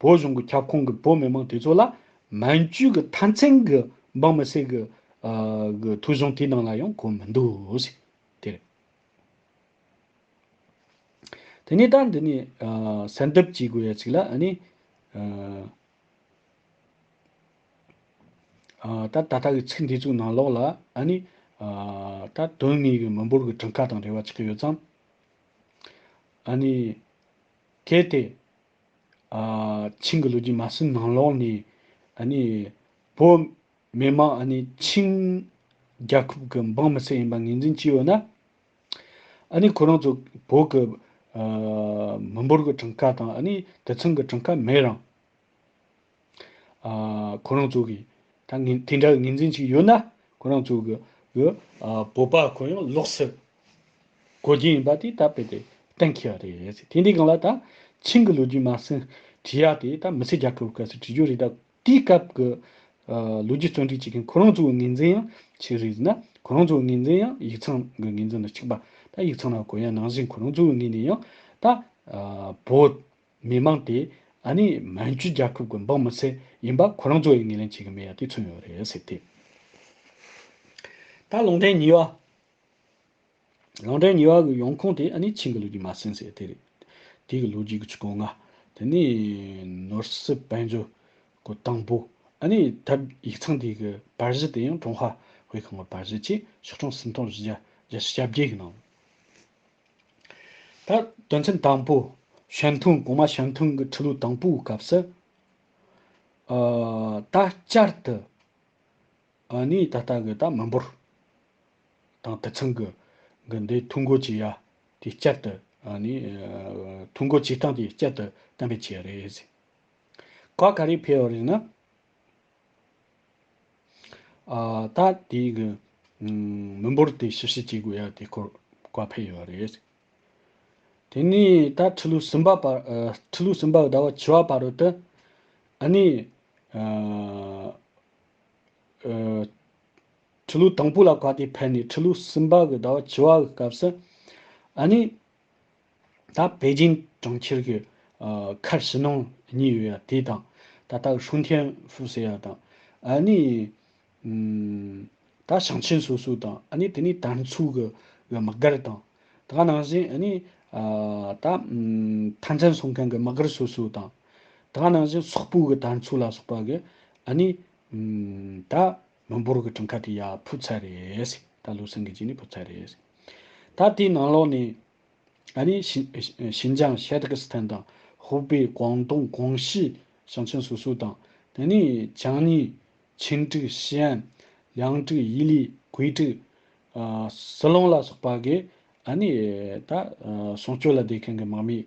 བོད་གཞུང་གི་ཁྱབ་ཁོངས་ཀྱི་བོད་མི་མང་དེ་ཚོ་ལ་མན་ཇུའི་གི་མཐའ་མཚན་གི་འབངས་མི་སེར་གི་གི་ཐུགས་གཞུང་དེའི་ནང་ལ་ཡང་གོ་མི་འདུག། དེ་རེད། དེ་ནས་ད་འདི་ནས་གསལ་འདེབས་བྱེད་དགོས་ཡ་ཅིག་ལ་ཨ་ནི། ད་ད་ལྟ་གི་ཚིག་འདི་ཚོའི་ནང་ལོགས་ལ་ཨ་ནི། ད་དོན་དངོས་གི་མི་འབོར་གི་གྲངས་ཁ་དང་རེ་བ་ཅིག་གི་ཡོད་ཙམ། ཨ་ནི། གལ་ཏེ། ཆིང་གི་ལོ་རྒྱུས་མ་ཟིན་ནང་ལོགས་ནས་བོད་མི་དམངས་ཆིང་རྒྱལ་ཁབ་ཀྱི་འབངས་མི་སེར་ཡིན་པ་ངེས་འཛིན་བྱས་ཡོད་ན། ཁོ་རང་ཚོ་བོད་ཀྱི་མི་འབོར་གྱི་གྲངས་ཀ་དང་དེ་མཚུངས་ཀྱི་གྲངས་ཀ་མེད་རང། ཁོ་རང་ཚོ་གིས་ད་ངན་དེ་འདྲ་གི་ངན་འཛིན་ཅིག་ཡོད་ན་ཁོ་རང་ཚོ་གི་གི་བོད་པ་ཁོ་ཡང་ལོག་སྲིད་དགོས་ཀྱི་ཡིན་པ་དེ་ད་དཔེ་དེ་གཏན་འཁེལ་བ་རེད་དེ་འདྲའི་གང་ལ་ད་ཆིང་གི་ལོ་རྒྱུས་མ་ཟིན་བྲིས་ཡག་དེ་ད་མི་ཚེ་རྒྱབ་ཁྲོ་བོ་ག་ཚོད་བྲིས་རྒྱུ་རེད་ད་དེའི་སྐབས་གི་ལོ་རྒྱུས་བརྩོན་འགྲུས་ཅིག་གིན་ཁོ་རང་ཚོ་གི་ངན་འཛིན་ཡང་ཆིག་རེད་ཟེར་ན་ཁོ་རང་ཚོ་གི་ངན་འཛིན་ཡང་ཡིག་ཚང་གི་ངན་འཛིན་ལ་ཆིག་པ་ད་ཡིག་ཚང་ལ་གོ་ཡ་ནང་བཞིན་ཁོ་རང་ཚོ་གི་ངོས་ནས་ཡང་ད་བོད་མི་མང་དེ་ཨ་ནི་མན་ཇུ་རྒྱལ་ཁབ་ཀྱི་འབངས་མི་ཚད་ཡིན་པ་ཁོ་རང་ཚོ་ཡིས་ངེས་ལེན་བྱེད་ཀྱི་མེད་ཡ་དེ་མཚོན་ཡོད་རེད་ཟེར་ཏེ། ད་ལོང་འདྲེན་ཉི་བ། ལོང་འདྲེན་ཉི་བ་གི་ཡོང་ཁུངས་དེ་ཨ་ནི་ཆིང་གི་ལོ་རྒྱུས་མ་ཟིན་ཟེར་དེ་རེད། དེ་གི་ལོ་རྒྱུས་ཀྱི་ཆུ་ཀོང་ང། དེ་ནི་ནོར་སྲིད་དཔལ་འབྱོར་གི་དང་པོ། ཨ་ནི་ད་ཡིག་ཚང་དེ་གི་པར་གཞི་དེ་ཡང་ཀྲུང་ཧྭ་དབུས་ཁམས་ཀྱི་པར་གཞི་ཆེས་ཕྱོགས་ཆུང་སུམ་སྟོང་བཞི་བརྒྱ་བརྒྱ་ཆའི་གྱ་བརྒྱད་ཡི་ནང། ད་དོན་ཚན་དང་པོ། ཞལ་མཐུན་གོང་མ་ཞལ་མཐུན་གྱི་འཕྲི་ལུགས་དང་པོའི་སྐབས་སུ། ད་བསྐྱར་དུ་ནི་ད་ལྟ་གི་ད་མི་འབོར་དང་དུད་ཚང་གི་གི་འདི་ཐུགས་འགོ་བྱེད་ཡ་དེ་བསྐྱར་དུ་ནི་ཐུགས་འགོ་བྱེད་སྟངས་དེ་བསྐྱར་དུ་བསྟན་པའི་ཆེད་རེད། ག་ག་རེ་ཕེར་བ་རིག་ན། ད་དེ་གི་མི་འབོར་དེ་ཞིབ་བཤེར་བྱེད་དགོས་ཡ་དེ་སྐོར་བཀའ་ཕེབས་ཡོད་པ་རེད། དེ་ནས་ད་ཁྲི་ལོ་གསུམ་པ་བར་ཁྲི་ལོ་གསུམ་པ་ཟླ་བ་བཅུ་བ་བར་རོལ་ཏེ། ཨ་ནི། ཁྲི་ལོ་དང་པོ་ལ་བཀའ་དེ་ཕེབས་ནས་ཁྲི་ལོ་གསུམ་པ་གི་ཟླ་བ་བཅུ་བ་གི་སྐབས་སུ། ཨ་ནི། ད་པེ་ཅིན་གྲོང་ཁྱེར་གྱི་ཁར་ཕྱི་ནང་གཉིས་ཡོད་ཡ་དེ་དང། ད་ལྟ་ཧྲུན་ཐེན་ཧྥུ་ཟེར་ཡ་དང། ཨ་ནི། ད་ཞིང་ཆེན་སོ་སོ་དང་ཨ་ནི་དེ་ནི་དར་མཚུགས་གི་གི་མི་སྒར་དང། ད་ག་ནང་བཞིན་ཨ་ནི། ད། ཐང་ཆེན་སོང་མཁན་གི་མི་སྒར་སོ་སོ་དང། ད་ག་ནང་བཞིན་སོག་པོ་གི་དར་མཚུགས་ལ་སོགས་པ་གི་ཨ་ནི། ད། མི་འབོར་གྱི་གྲངས་ཀ་དེ་ཡང་ཕུད་ཚར་རེད། ད་ལོའི་སྲིད་འགན་བྱས་ནས་ཕུད་ཚར་རེད། ད་དེའི་ནང་ལོགས་ནས། ཨ་ནི། ཞིན་ཅང་ཤཱེ་ཏི་ཀི་སི་ཐན་དང། ཧུའུ་པེ། ཀོང་ཏུང། ཀོང་ཤིས། ཞང་ཆེན་སོ་སོ་དང། དེ་ནས་ཅང་ནི། ཆིན་ཀྲིག། ཤི་ཨན། ལིའང་ཀྲིག། དབྱི་ལི། གུའེ་ཀྲིག། སི་ལོང་ལ་སོགས་པ་གིས། ཨ་ནི། ད། སྲུང་སྐྱོབ་ལ་བསྡད་མཁན་གྱི་དམག་མིས།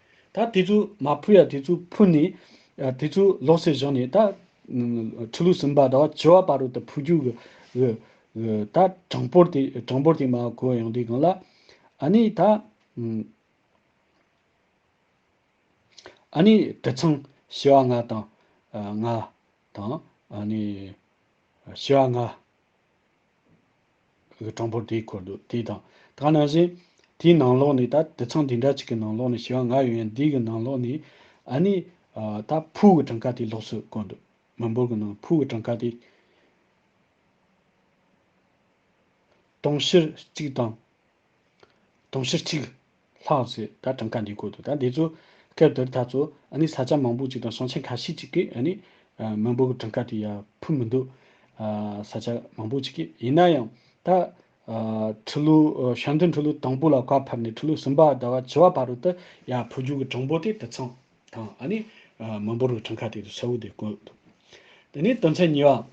ད་དེ་ཚོ་མ་ཕུལ་ཡ་དེ་ཚོ་ཕུལ་ནས། དེ་ཚོ་ལོག་སྲེད་བཞག་ནས་ད། ཁྲི་ལུགས་ཟིན་པ་ད་བྱི་བ་པ་རུ་ད་ཕུལ་རྒྱུ། ད་གྲངས་འབོར་དེ་གྲངས་འབོར་དེ་མ་གོ་ཡང་དེ་གང་ལ། ཨ་ནི་ད། ཨ་ནི་དེ་ཚང་བྱི་བ་ང་དང། ང་དང། ཨ་ནི། བྱི་བ་ང། གི་གྲངས་འབོར་དེའི་འཁོར་འདུག་དེ་དང། ད་ནང་བཞིན། དེའི་ནང་ལོགས་ནས་ད་དེ་ཚང་དེ་འདྲ་གཅིག་གི་ནང་ལོགས་ནས་བྱེ་བ་ང་ཡོད་ཡང་དེའི་གི་ནང་ལོགས་ནས། ཨ་ནི། ད་ཕུའུ་གི་གྲངས་ཀ་དེ་ལོགས་སུ་བཀོད་འདུག་མི་འབོར་གི་ནང་ཕུའུ་གི་གྲངས་ཀ་དེ། སྟོང་བཤེར་གཅིག་དང། དུང་ཕྱུར་གཅིག། ལྷག་ཟེར་ད་གྲངས་ཀ་འདི་བཀོད་འདུག་ད་འདི་ཚོ། སྐབས་དེར་ད་ཚོ། ཨ་ནི་ས་ཆ་མང་པོ་ཅིག་དང་ཟོང་ཆེན་ཁ་ཤས་ཅིག་གིས་ཨ་ནི། མི་འབོར་གྱི་གྲངས་ཀ་དེ་ཡར་འཕུར་མི་འདུག། ས་ཆ་མང་པོ་ཅིག་གིས་ཡིན་ན་ཡང། ད། ཁྲི་ལོ། ཞང་བདུན་ཁྲི་ལོ་དང་པོ་ལ་བཀའ་ཕབ་ནས་ཁྲི་ལོ་གསུམ་པ་ཟླ་བ་བཅུ་བ་བར་དུ། ཡར་འཕུར་རྒྱུ་གི་གྲངས་འབོར་དེ་དེ་ཚང་དང་ཨ་ནི། མི་འབོར་གྱི་གྲངས་ཀ་དེ་དུ་གསལ་བོ་དེ་བཀོད་འདུག། དེ་ནས་དོན་ཚན་གཉིས་པ།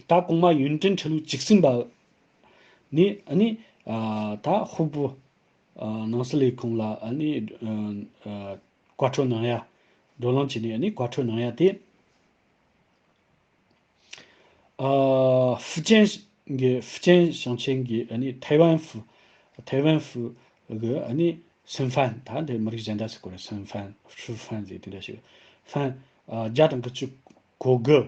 ད་གོང་མ་ཡོན་ཏན་ཁྲི་ལུགས་གཅིག་ཟིན་པ། ནི་ནི། ད་ཧོ་པུ། ནང་སི་ལའི་ཁོང་ལ་ནི། བཀའ་འཁྲོལ་གནང་ཡ། འགྲོ་ལམ་བྱས་ནས་ནི་བཀའ་འཁྲོལ་གནང་ཡ་སྟེ། ཧྥུ་ཅན་གྱི་ཧྥུ་ཅན་ཞིང་ཆེན་གྱི་ནི་ཐའེ་ཝན་ཧྥུ། ཐའེ་ཝན་ཧྥུ། གི་ནི་སུན་ཧྥན་ད་འདི་མི་རིགས་གཞན་དག་སུ་གོ་རེ་སུན་ཧྥན་ཧྲུའུ་ཧྥན་ཟེར་དེ་འདྲ་ཞིག་ཧྥན། བརྒྱ་དང་དགུ་བཅུ་གོ་དགུ།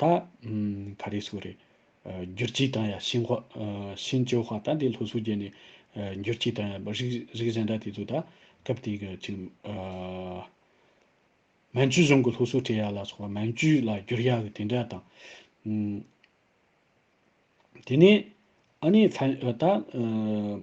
ད་ག་རེ་སུ་རེད། འགྱུར་གྱིས་དང་ཡ་ཤིན་ཧོ། ཤིན་ཅོ་ཧོ་ད་འདི་ལྷོ་སུ་རྒྱལ་ནས་འགྱུར་གྱིས་དང་ཡ་པ་རིགས་རིགས་གཞན་འདྲ་དེ་ཚོ་ད་སྐབས་དེ་གི་ཅིག། མན་ཇུ་གཞུང་གི་ལྷོ་སུ་ཀྲེ་ཡ་ལ་སོགས་པ་མན་ཇུ་ལ་འགྱུར་ཡ་གི་དེ་འདྲ་དང། དེ་ནས་ཨ་ནི་ད།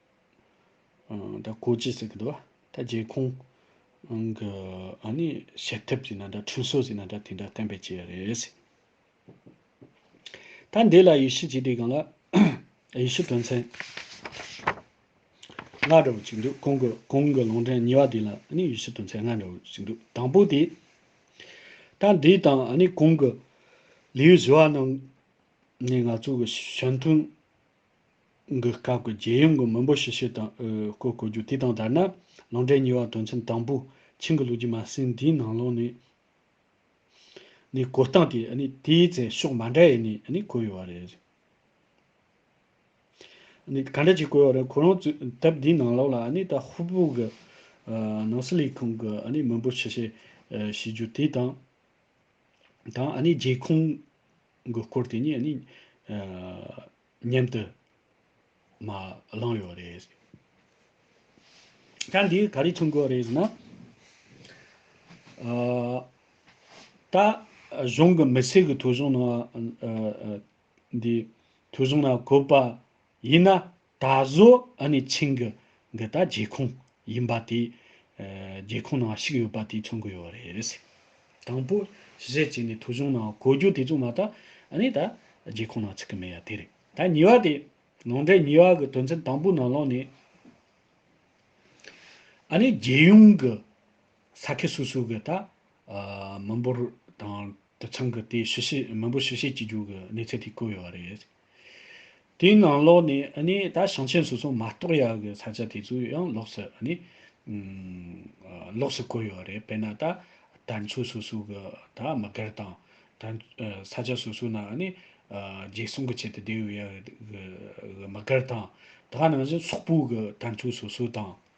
ད་གོ་ཅི་ཟེར་གི་འདུག་ད་རྒྱལ་ཁོང་གི་ཨ་ནི་བྱེད་ཐབས་ཅིག་ན་འདྲ་ཁྲུན་སོ་ཟིག་ན་འདྲ་དེ་འདྲ་བསྟན་པའི་ཆེད་རེད། ད་འདི་ལ་ཡི་ཤི་བྱས་དེ་གང་ལ་ཡི་ཤི་དོན་ཚན་ལྔ་འདྲ་བོ་ཅིག་འདུག་གོང་གི་གོང་གི་ལུང་འདྲེན་གཉིས་པ་དེ་ལ་ཨ་ནི་ཡི་ཤི་དོན་ཚན་ལྔ་འདྲ་བོ་ཅིག་འདུག་དང་པོ་དེ་ད་འདི་དང་ཨ་ནི་གོང་གི་ལིའུ་ཞི་བ་རྣམས་ནས་ང་ཚོ་གི་གཞོན་མཐུན་གི་སྐབས་ཀྱི་རྒྱལ་ཡོངས་ཀྱི་མི་འབོར་ཞིབ་བཤེར་དང་སྐོར་གོ་རྒྱུ་དེ་དང་སྦྲགས་ན་ལང་འབྲས་གཉིས་བར་དོན་ཚན་དང་པོ་ཆིང་གི་ལོ་རྒྱུས་མ་ཟིན་དེའི་ནང་ལོགས་ནས་ནས་གོ་སྟངས་དེ་དེའི་ཚེ་ཕྱོགས་མ་འདྲ་ཡས་ནས་བཀོད་ཡོད་པ་རེད། ག་འདྲ་ཅིག་བཀོད་ཡོད་རེད་ཁོ་རང་ཚོས་དེབ་དེའི་ནང་ལོགས་ལ་ད་ཧུར་པོ་གི་ནང་སྲིད་ལས་ཁུངས་ཀྱི་མི་འབོར་ཞིབ་བཤེར་བྱེད་རྒྱུ་དེ་དང་དང་རྒྱལ་ཁོངས། གི་སྐོར་དེ་ཉིད་ནི། མཉམ་དུ། མ། བླངས་ཡོད་རེད། ད་འདིའི་ག་རེ་མཚོན་དགོས་རེད་ཟེར་ན། ད། གཞུང་གི་མི་སེར་གི་ཐོས་གཞུང་ནང། འདི། ཐོས་གཞུང་ནང་བཀོད་པ། ཡིན་ན། ད་གཟོད་ཨ་ནེ་ཆིང་གི་འདི་ད་རྒྱལ་ཁོངས་ཡིན་པ་དེ། རྒྱལ་ཁོངས་ནང་ཞིག་ཡོད་པ་དེ་མཚོན་གི་ཡོད་རེད། དང་པོ་གཞི་བྱས་ནས་ཐོ་གཞུང་ནང་གོ་རྒྱུ་དེ་ཚོ་མ་ད་ཨ་ནེ་ད་རྒྱལ་ཁོངས་ནང་ཚུད་གི་མེད་ཡ་དེ་རེད། ད་གཉིས་པ་དེ། ནང་འདྲེན་གཉིས་པ་གི་དོན་ཚན་དང་པོའི་ནང་ལོགས་ནས། ཨ་ནེ་རྒྱལ་ཡོངས་གི་ས་ཁུལ་སོ་སོའི་གི་ད་མི་འབོར་དང་དུད་ཚང་གི་དེ་ཞུ་བྱེད་མི་འབོར་ཞུ་བྱེད་བྱེད་རྒྱུ་གི་གནས་ཚུལ་དེ་བཀོད་ཡོད་རེད། དེའི་ནང་ལོགས་ནས་ད་ཞིང་ཆེན་སོ་སོ་མ་གཏོགས་ཡག་གི་ས་ཆ་དེ་ཚོ་ཡང་ལོགས་སུ་ལོགས་སུ་བཀོད་ཡོད་རེད་དཔེར་ན་ད་དར་མཆོད་སོ་སོ་གི་ད་མི་སྒེར་དང། ས་ཆ་སོ་སོ་ན་རྒྱལ་སྲུང་གི་ཆེད་དུ་སྡོད་ཡོད་ཡག་གི་མི་སྒེར་དང། ད་ནང་བཞིན་སོག་པོ་གི་དར་མཆོད་སོ་སོ་དང།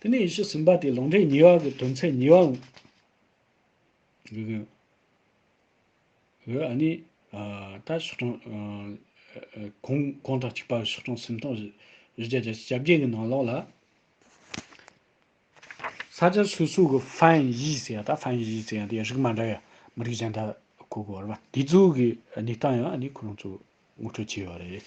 དེ་ནས་ཡེ་ཤུ་ཟིན་པ་དེ་ལུང་རིགས་ཉེ་བ་གི་དོན་ཚན་ཉེ་བ། ཨ་ནི། ད་ཕྱོགས་སྐྱོང། གུང་གང་དང་གཅིག་པ་ཕྱོགས་སྐྱོང་སེམས་སྟོང་བཞི་བརྒྱ་རྒྱ་ཆ་གྱ་བརྒྱད་གི་ནང་ལོགས་ལ། ས་སྐྱ་སོ་སོ་གི་ཧྥན་གཞིས་ཟེར་ཡ་ད་ཧྥན་གཞིས་ཟེར་ཡ་དེ་རིགས་མ་འདྲ་ཡ་མི་རིགས་གཞན་དག་གོ་གོ་ར་དེ་ཚོ་གི་གནས་སྟངས་ཡང་ཨ་ནི་ཁོ་རང་ཚོ་ངོ་སྤྲོད་བྱས་ཡོད་རེད།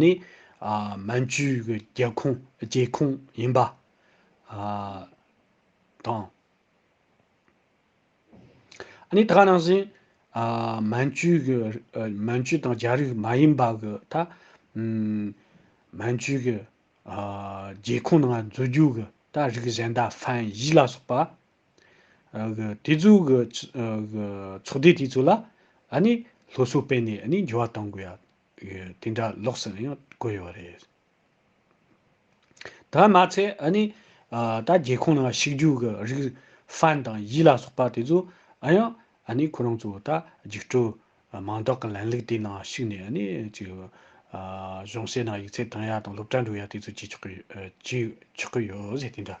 ནི། མན་ཇུའི་རྒྱལ་ཁོངས་རྒྱལ་ཁོངས་ཡིན་པ། དང། ནི་ད་ནང་བཞིན། མན་ཇུའི་མན་ཇུ་དང་རྒྱ་རིགས་མ་ཡིན་པ། ད། མན་ཇུའི་རྒྱལ་ཁོངས་ནང་འཛུལ་རྒྱུ། ད་རིགས་གཞན་དག་ཧྥན་གཞིས་ལ་སོགས་པ། དེ་ཚོའི་གི་ཚོགས་སྡེ་དེ་ཚོ་ལ་ཨ་ནི་སློབ་གསོ་སྤེལ་ནས་ཨ་ནི་འགྱུར་བ་གཏོང་དགོས་ཡ། དེ་འདྲ་ལོགས་སུ་ཡང་བཀོད་ཡོད་རེད། དེ་མ་ཚད་ཨ་ནི་ད་རྒྱལ་ཁོངས་ནང་ཞིག་རྒྱུ་གི་རིགས་ཧྥན་དང་ཡི་ལ་སོགས་པ་དེ་ཚོ་ཨ་ཡང་ཨ་ནི་ཁོ་རང་ཚོ་ད་རྒྱུགས་སྤྲོད་མང་དག་གི་ལན་ལུགས་དེ་ནང་ཞུགས་ནས་ཨ་ནི་ཅིག་གཞུང་སྲས་ནང་ཡིག་ཚད་བཏང་ཡ་དང་སློབ་གྲྭ་འགྲོ་ཡ་དེ་ཚོ་བྱེད་ཆོག་གི་ཡོད་རེད་དེ་འདྲ།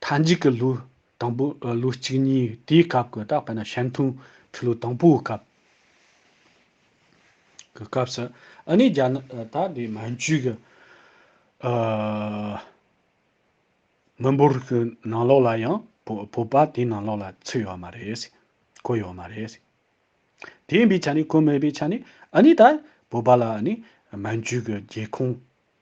མཐའ་མཇུག་གི་ལོའི་དང་པོ་ལོ་གཅིག་གཉིས་དེའི་སྐབས་ཀྱི་ད་པེ་ན་ཞལ་མཐུན་ཁྲི་ལོ་དང་པོའི་སྐབས་ཀྱི་སྐབས་སུ་ཨ་ནེ་རྒྱ་ནག་ད་དེ་མན་ཇུའི་གི་མི་འབོར་གྱི་ནང་ལོགས་ལ་ཡང་བོད་པ་དེའི་ནང་ལོགས་ལ་ཚུད་ཡོད་མ་རེད། བཀོད་ཡོད་མ་རེད། དེ་ཡིན་པའི་ཆ་ནས་བཀོད་མེད་པའི་ཆ་ནས་ཨ་ནེ་ད་བོད་པ་ལ་ཨ་ནེ་མན་ཇུའི་གི་རྒྱལ་ཁོངས་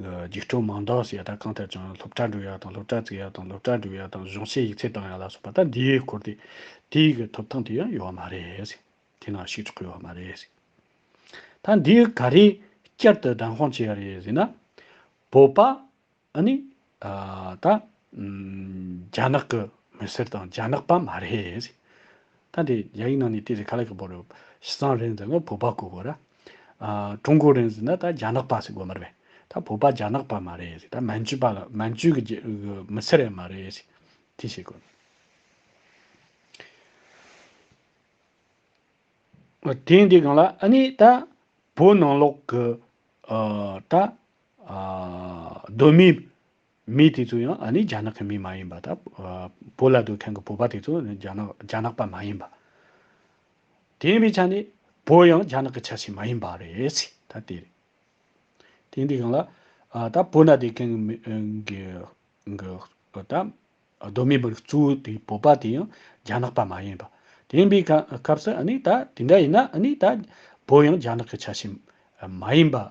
རྒྱུགས་སྤྲོད་མང་དག་ཞེས་ད་གང་ཐད་བྱུང་ཡང་སློབ་གྲྭ་འགྲོ་ཡག་དང་སློབ་གྲྭ་བརྩིགས་ཡག་དང་སློབ་གྲྭ་སྒྲུབ་ཡག་དང་གཞུང་ཞེས་ཡིག་ཚད་བཏང་ཡག་ལ་སོགས་པ་ད་འདིའི་སྐོར་དེ་དེའི་གི་ཐོབ་ཐང་དེ་ཡང་ཡོད་མ་རེད། དེ་ན་ཞིག་ཆོག་གི་ཡོད་མ་རེད། ད་འདི་ག་རེ་བསྐྱར་དུ་བདམས་དཔང་བྱས་ཡག་རེད་ཟེར་ན། བོད་པ་ཨ་ནི་ད་རྒྱ་ནག་གི་མི་སེར་དང་རྒྱ་ནག་པ་མ་རེད། ཐ་དེ་རྒྱ་ཡིག་ནང་ནས་བལྟས་ཏེ་ག་ལ་གི་བོར་རོ། ཤི་སང་རེན་ཟེར་ན་བོད་པ་གོ་དགོས་ར། ཀྲུང་གོ་རེན་ཟེར་ན་ད་རྒྱ་ནག་པ་ཟེར་དགོས་མ་རེད་པས། ད་བོད་པ་རྒྱ་ནག་པ་མ་རེད་ཟེར་ད་མན་ཇུ་པ་ལ་མན་ཇུ་གི་མི་སེར་ཡང་མ་རེད་ཟེར། དེ་བྱེད་དགོས། དེང་དེ་གང་ལ་ཨ་ནི་ད་བོད་ནང་ལོག་གི་ད་གདོད་མའི་མི་དེ་ཚོ་ཡང་ཨ་ནི་རྒྱ་ནག་གི་མི་མ་ཡིན་པ་དང། བོད་ལ་སྡོད་མཁན་གྱི་བོད་པ་དེ་ཚོ་རྒྱ་ནག་རྒྱ་ནག་པ་མ་ཡིན་པ། དེ་ཡིན་པའི་ཆ་ནས་བོད་ཡང་རྒྱ་ནག་གི་ཆ་ཞིག་མ་ཡིན་པ་རེད། ད་དེ་རེད། དེ་འདི་གང་ལ། ད་བོད་ན་སྡོད་མཁན་གྱི་མི་གི་གི་ཨ་ད་གདོད་མའི་བར་གཙོ་བོ་དེ་བོད་པ་དེ་ཡང་རྒྱ་ནག་པ་མ་ཡིན་པ། དེ་ཡིན་པའི་སྐབས་སུ་ཨ་ནི་ད་དེ་འདྲ་ཡིན་ན་ཨ་ནི་ད་བོད་ཡང་རྒྱ་ནག་གི་ཆ་ཞིག་མ་ཡིན་པ།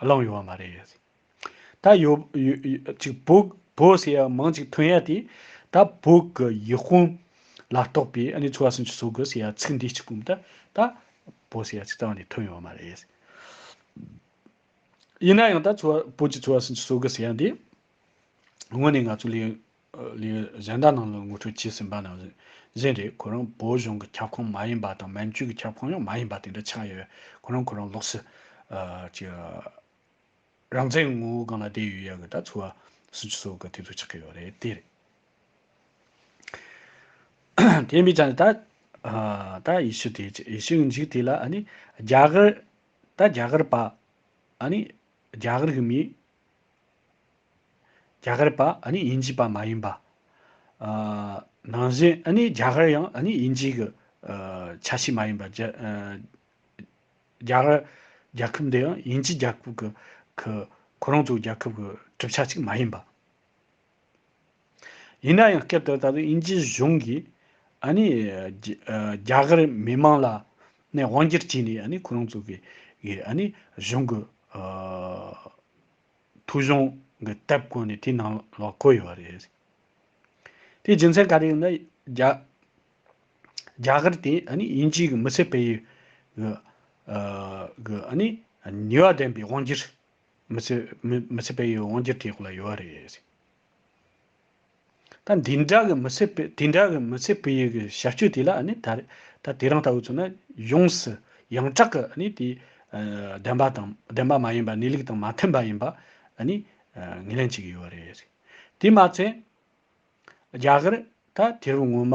བླངས་ཡོང་བ་མ་རེད། ད་ཡོབཅིག་བོབོ་ཟེར་ཡ་མང་ཅིག་ཐོན་ཡ་དེ། ད་བོད་ཀྱི་ཡིག་དཔུང་ལ་གཏོགས་པའི་ཨ་ནེ་ཚོ་བ་སུན་ཅི་བཟོ་དགོས་ཟེར་ཡ་ཚིག་འདི་གཅིག་པུམ་ད་ད་བོ་ཟེར་ཡ་ཅིག་རྩ་བ་ནས་ཐོན་ཡོང་བ་མ་རེད། ཡིན་ན་ཡང་ད་ཚོ་བ་བོད་ཀྱི་ཚོ་བ་སུན་ཅི་བཟོ་དགོས་ཟེར་ཡ་འདི། དངོས་ནས་ང་ཚོ་ལས་ལས་གཞན་དག་ནང་ལ་ངོ་སྤྲོད་བྱས་ཟིན་པ་ནང་བཞིན་རེད། ཁོ་རང་བོད་གཞུང་གི་ཁྱབ་ཁོངས་མ་ཡིན་པ་དང་མན་ཇུའི་གི་ཁྱབ་ཁོངས་ཡང་མ་ཡིན་པ་དེ་འདྲ་ཆགས་ཡོད། ཁོ་རང་ཁོ་རང་ལོགས་སུ་གི་རང་བཙན་ངོ་བོ་སྒང་ལ་བསྡད་ཡོད་ཡག་གི་ད་འཚོ་བ་སུན་ཅུ་སོགས་གི་དེ་ཚོ་ཆགས་ཀྱི་ཡོད་རེད་དེ་རེད། དེ་ཡིན་པའི་ཆ་ནས་ད་ད་ཡེ་ཤུ་དེ་ཡེ་ཤུ་གི་འཇིག་དེ་ལ་ཨ་ནི་རྒྱ་གར་ད་རྒྱ་གར་པ་ཨ་ནི་རྒྱ་གར་གི་མི་རྒྱ་གར་པ་ཨ་ནི་དབྱིན་ཇི་པ་མ་ཡིན་པ། ནང་བཞིན་ཨ་ནི་རྒྱ་གར་ཡང་ཨ་ནི་དབྱིན་ཇི་གི་ཆ་ཤས་མ་ཡིན་པ། རྒྱ་གར་རྒྱལ་ཁབ་འདི་ཡང་དབྱིན་ཇི་རྒྱལ་ཁབ་གི་གི་ཁོ་རང་ཚོའི་རྒྱལ་ཁབ་གི་གྲུབ་ཆ་ཅིག་མ་ཡིན་པ། ཡིན་ན་ཡང་སྐབས་དེར་ད་དུང་དབྱིན་ཇི་གཞུང་གིས་ཨ་ནི། རྒྱ་གར་མི་མང་ལ་ནས་དབང་སྒྱུར་བྱས་ནས་ཨ་ནི་ཁོ་རང་ཚོ་གི་ཨ་ནི་གཞུང་གི། ཐུགས་གཞུང་གི་དེབ་བཀོད་ནས་དེའི་ནང་ལ་བཀོད་ཡོད་པ་རེད། དེའི་རྒྱུ་མཚན་ག་རེ་ཡིན་ན། རྒྱ། རྒྱ་གར་དེ་ཨ་ནི་དབྱིན་ཇིའི་གི་མི་སེར་སྤེལ་ཡུལ་གི། གི་ཨ་ནི་ནུས་བ་ལྡན་པའི་དབང་སྒྱུར་མི་ཚེ་མི་ཚེ་བས་ཡོད་འོང་རྒྱུ་དེ་ཁོ་ལ་ཡོད་རེད། ད་འདི་འདྲ་གི་མི་ཚེ་བས་དེ་འདྲ་གི་མི་ཚེ་བས་ཡོད་གི་བྱ་སྤྱོད་དེ་ལ་ནི་ད་ད་དེ་རང་ལྟ་བུ་ཚོ་ན་ཡོངས་སུ་ཡང་དྲག་གི་ནི་དེ་བདེན་པ་དང་བདེན་པ་མ་ཡིན་པ་གནས་ལུགས་དང་མ་མཐུན་པ་ཡིན་པ་ནི་ངེས་ལེན་བྱེད་ཀྱི་ཡོད་རེད། དེ་མ་ཚད་རྒྱ་གར་ད་དེ་རུ་ངོ་མ་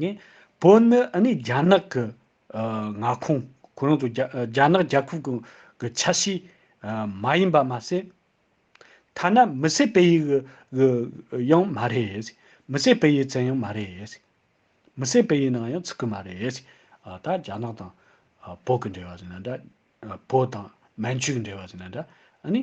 ནི། བོད་ནི་ཨ་ནི་རྒྱ་ནག་གི་མངའ་ཁོངས་ཁོ་རང་ཚོ་རྒྱ་ནག་རྒྱལ་ཁབ་ཀྱི་ཆ་ཤས་མ་ཡིན་པ་མ་ཟད། ཐ་ན་མི་སེར་སྤེལ་ཡུལ་ཡང་མ་རེད། མི་སེར་སྤེལ་ཡུལ་ཙམ་ཡང་མ་རེད། མི་སེར་སྤེལ་ཡུལ་ནང་ཡང་ཚུད་ཀྱི་མ་རེད། ད་རྒྱ་ནག་དང་བོད་ཀྱི་འབྲེལ་བ་ཟེར་ན་འདྲ། བོད་དང་མན་ཇུའི་འབྲེལ་བ་ཟེར་ན་འདྲ། ཨ་ནི།